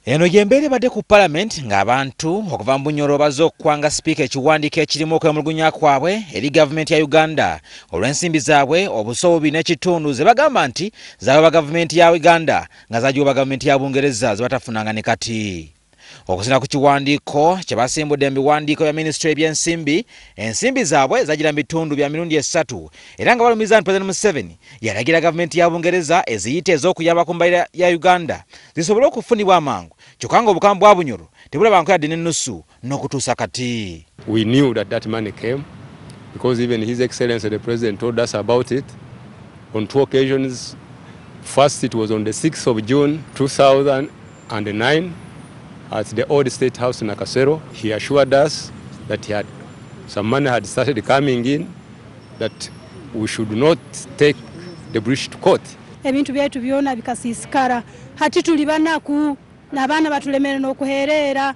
Eno gyembeera ebadde ku palamenti ng'abantu okuva mu bunyoro bazze okukwanga sipiika ekiwandiiko ekirimu okwemulugunya kwabwe eri gavumenti ya uganda olw'ensimbi zaabwe obuso bubi n'ekitundu ze bagamba nti zaaba gavumenti ya uganda nga zagiwoba gavumenti ya bungereza ze batafunanga ne kati Okusina ku kiwandiiko kye basimbudde mu biwandiiko bya minisitule y'ebyensimbi, ensimbi zaabwe zagira mu bitundu bya mirundi esatu era nga balumiza nti Pulezidenti Museveni yalagira gavumenti ya Bungereza eziyita ez'okuyamba ku mbalira ya Uganda zisobole okufunibwa amangu kyokka ng'obukama bwa Bunyoro tebulabanko yadde n'ennusu n'okutuusa kati. We knew that that money came because even His Excellency the President told us about it on two occasions. First it was on the 6th of June 2000. and nine at the old state house Nakasero he assured us that he had some money had started coming in that we should not take the bridge to court. Ebintu byaitu byona bikasisikara hati tuli banaku nabaana batulemere nokuherera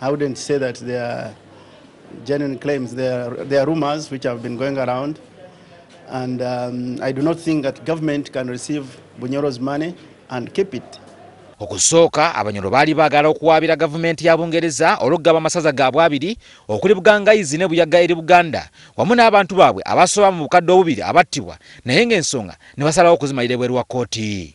I wouldn't say that they are genuine claims. They are, they are rumors which have been going around. And um, I do not think that government can receive Bunyoro's money and keep it. okusooka abanyolo baali baagala okuwaabira gavumenti ya bungereza olwokugaba amasaza gaabwe abiri okuli bugangayizi ne buyaga eri buganda wamu n'abantu baabwe abasoba mu bukadde obubiri abattibwa naye ng'ensonga ne basalawo okuzimalira ebweru wa kkooti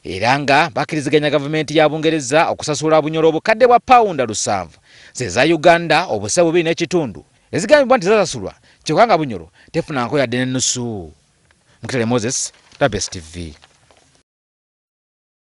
era nga bakiriziganya gavumenti ya Bungereza okusasula Bunyoro obukadde bwa pawunda lusanvu z'eza Uganda obusa bubiri n'ekitundu ezigambibwa nti zasasulwa kyokka nga Bunyoro tefunangako yadde n'ennusu. Mukitale Moses, Nabes TV.